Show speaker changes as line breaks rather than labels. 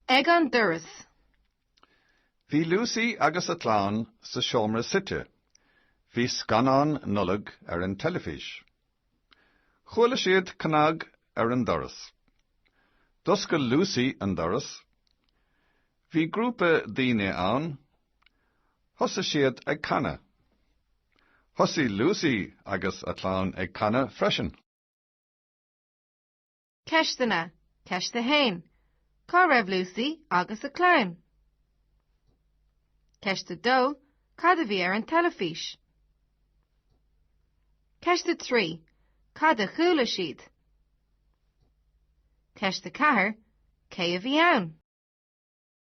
Ag an doras.
Bhí Lucy agus a clann sa seomra suite. Bhí scannán Nollag ar an teilifís. Chuala siad cnag ar an doras. D'oscail Lucy an doras. Bhí grúpa daoine ann. Thosaigh siad ag canadh. Thosaigh Lucy agus a clann ag canadh freisin.
Ceisteanna, Ceist 1. Cá raibh Lucy agus a clann? Ceist 2. Cad a bhí ar an teilifís? Ceist 3. Cad a chuala siad? Ceist 4. Cé a bhí ann?